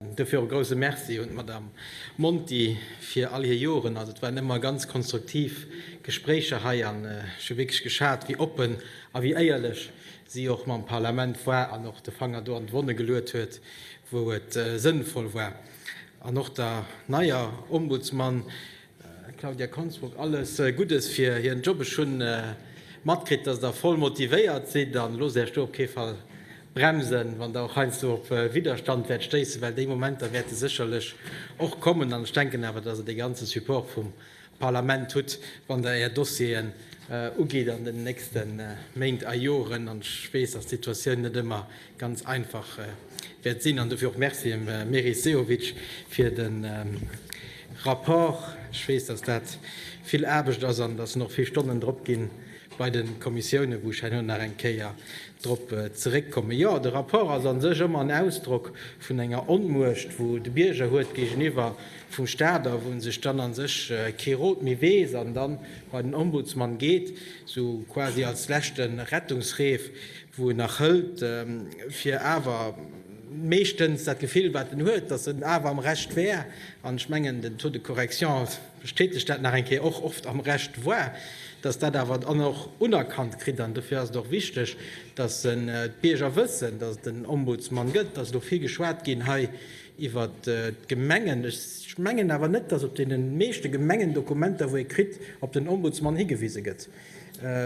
Dofir och e grousse Merci un d'Madame Monti fir all hir Joren. Also et waren ëmmer ganz konstruktiv Gespréicher hei an ech hu wierklech geschat, wéi oppen a wéi éierlech si och mam Parlament war an och de Fanger do an d'Wonne geluet huet, wou et sënnvoll war. An och der neier Ombudsman Claudia Konsbruck, Alles Guddes fir hiren Job. Ech hunn matkritt, datt der voll motivéiert sidd an loosst Äech do op kee Fall bremsen, wann der och heiansdo op Widderstand wäert stéissen, well déi Momenter wäerte sécherlech och kommen. An ech denken awer, datt der de ganze Support vum Parlament hutt, wann der Är Dossieren ugitt an den nächste Méint a Joren. An ech weess, datt d'Situatioun net ëmmer ganz einfach wäert sinn. An dofir och Merci dem Meris Sehovic fir de Rapport. Ech weess, dass dat vill Aarbecht ass an dass nach vill Stonnen drop ginn bei de Kommissiounen, wou ech herno nach eng Kéier drop zeréckkommen. Jo, de Rapport ass a sech ëmmer en Ausdrock vun enger Onmuecht, wou de Bierger huet géigeniwwer vum Staat a wou en sech dann a sech kee Rot méi weess an dann bei den Ombudsmann geet, esou quasi als leschte Rettungsreef. wou en nach hëlt, fir awer meeschtens dat Gefill, wat en huet, datt en awer am Recht wär, an ech mengen, den Taux de correction bestätegt dat nach eng Kéier, och oft am Recht war, datt dat awer dann och unerkannt kritt. An dofir ass et och wichteg, datt d'Bierger wëssen, datt et en Ombudsman gëtt. Et ass elo vill geschwat ginn hei iwwer d'Gemengen. Ech mengen awer net, datt op deene meeschte Gemengendokumenter, wou ee kritt, op den Ombudsman higewise gëtt.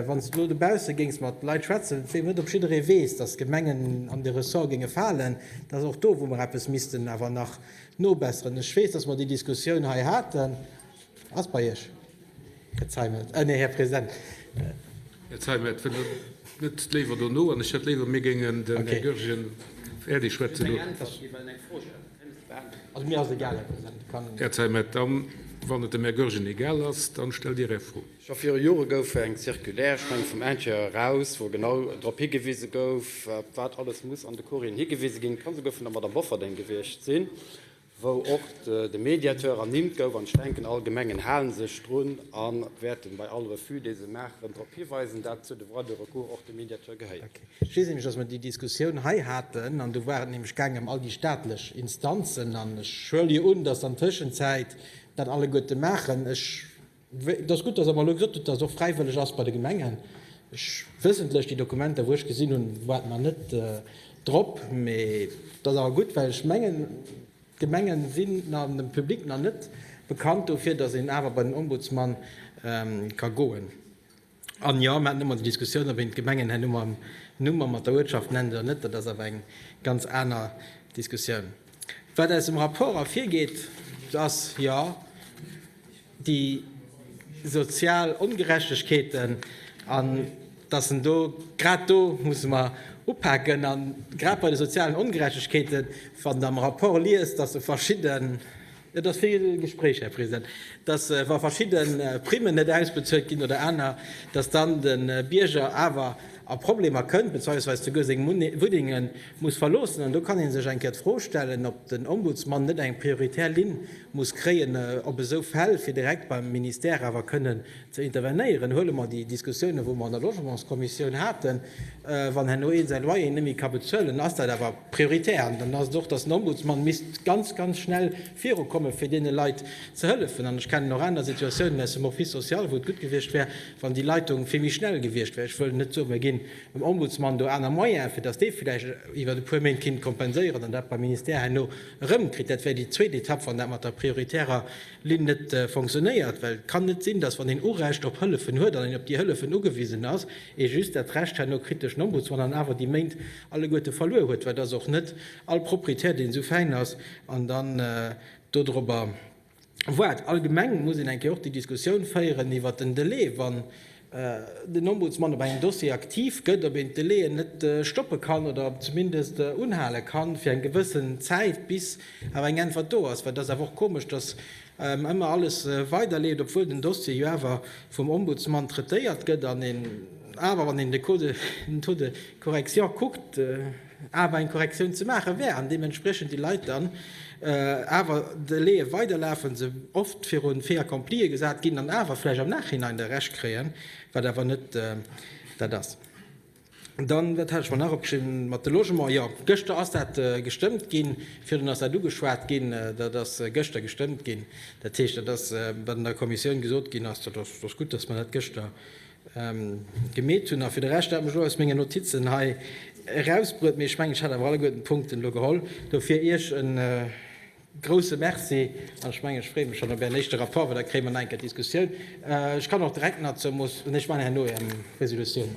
Wann s de elo dobausse géings mat Leit schwätzen, vu deenen net op jidderee weess, datt d'Gemengen an de Ressort géinge falen, dat ass och do, wou mer eppes missten awer nach nobesseren. Ech weess, datt mer déi Diskussioun hei haten. Ass bei Iech, Här Zeimet, nee, Här President. Här Zeimet, wëll Der net léiwer dono? An ech hätt léiwer, mir géingen den Här Goergen äerdeg schwätzen loen. Här Zeimet, da wann et dem Här Goergen egal ass, da stellt Dir Är Fro. Scho viru Jore gouf eng Circulaire, ech mengen vum Intérieur eraus, wou genau drop higewise gouf, op wat alles muss an de Courrieren higewise ginn. Et ka souguer vun der Madame Bofferding gewiescht sinn, wou och de Mediateur ernimmt gouf. An ech denken, all Gemengen hale sech drun a wäerten bei all Refus, dee se maachen, drop hiweisen, datt zu de Droits de recours och de Mediateur gehéiert. Ech weess nämlech, datt mer déi Diskussioun hei haten an do war et nämlech gaangen ëm all déi staatlech Instanzen an ech huele jo un, datt an Tëschenzäit dat alleguerte maachen. Ech. Et ass gutt, dass Der mer elo gesot hutt, dass et och fräiwëlleg ass bei de Gemengen. Ech, wëssentlech, déi Dokumenter, wou ech gesinn hunn, ware mer net drop. Mee et ass awer gutt, well ech mengen, d'Gemenge sinn nach dem Public nach net bekannt dofir, dass een awer bei den Ombudsman ka goen. An jo, mir haten ëmmer déi Diskussioun, ob een d'Gemengen herno mam Numm a mat der Uertschaft nennt oder net. Dat ass awer eng ganz aner Diskussioun. Wat aus dem Rapport ervirgeet, ass jo déi sozial Ongerechtegkeeten an dass en do, grad do musse mer upaken. A grad bei de sozialen Ongerechtegkeeten, wann Der am Rapport liest, dass e verschidde Et ass vill Gespréich, Här President, dass, wa verschidde Primmen net ausbezuelt ginn oder aner, dass dann de Bierger awer a Problemer kënnt, bezweisweis souguer seng Wunnenge muss verloossen. An do kann ee sech eng Kéier d'Fro stellen, ob den Ombudsmann net eng prioritär Linn muss kréien, ob esou Fäll fir direkt beim Ministère awer kënnen Ze intervenéieren, huele mer déi Diskussiounen, wou mer an der Logementskommissioun haten, Wann herno een säi Loyer net méi ka bezuelen, dann ass dat awer prioritär an dann ass et och, datt den Ombudsman misst ganz, ganz schnell virukommen, fir deene Leit ze hëllefen. An ech kennen och aner Situatiounen aus dem Office social, wou et gutt gewiescht wär, wann déi Leitung vill méi schnell gewiescht wär. Ech wëll net soen, mir ginn dem Ombudsman do aner Moyene fir, datt dee vläicht iwwer e puer Méint kinnt kompenséieren an dat beim Ministère herno erëmkritt. Dat wär déi zweet Etapp, wann dat mat der prioritärer Linn net fonctionnéiert, well et kann net sinn, dass, wann een Urecht op Hëllefen huet an een op déi Hëllefen ugewisen ass, ee just dat Recht herno kritt duerch den Ombudsmann an awer déi Méint alleguerte verluer huet, well et ass och net all Proprietär, deen esou fäin ass an dann do dorobber waart. Allgemeng muss een eng Kéier och déi Diskussioun féieren iwwert den Delai, wann den Ombudsman op engem Dossier aktiv gëtt, ob een d'Delaien net stoppe kann oder zumindest unhale kann fir eng gewëssen Zäit, bis awer eng Äntwert do ass. Well et ass awer och komesch, dass ëmmer alles weiderleeft, obwuel den Dossier jo awer vum Ombudsman traitéiert gëtt an een awer, wann een den Taux de correction kuckt, awer eng Korrektioun ze maache wär an deementspriechend déi Leit dann awer d'Delaie weiderlafen, se oft virun d'Fait accomplie gesat ginn an awer vläicht am Nachhinein da Recht kréien, wat awer net dat ass. Dann, wat hat ech mer nach opgeschriwwen mat de Logement, jo, gëschter ass dat gestëmmt ginn, virdrun ass dat ugeschwat ginn, dat ass gëschter gestëmmt ginn. Dat heescht, dat ass wat an der Kommissioun gesot ginn ass, dat ass gutt, datt mer dat gëschter gemeet hunn. A fir de Rescht, dat mech elo aus mengen Notizen hei erausbruet, mee ech mengen, ech hat awer alleguerten d'Punkten elo geholl. Dofir Iech e grouse Merci an ech mengen, ech freeë mech schonn op Ären éischte Rapport, well da kréie mer nach eng Kéier d'Diskussioun. Ech kann och direkt nach zur Mo, nee, ech maachen herno Äre Resolutioun.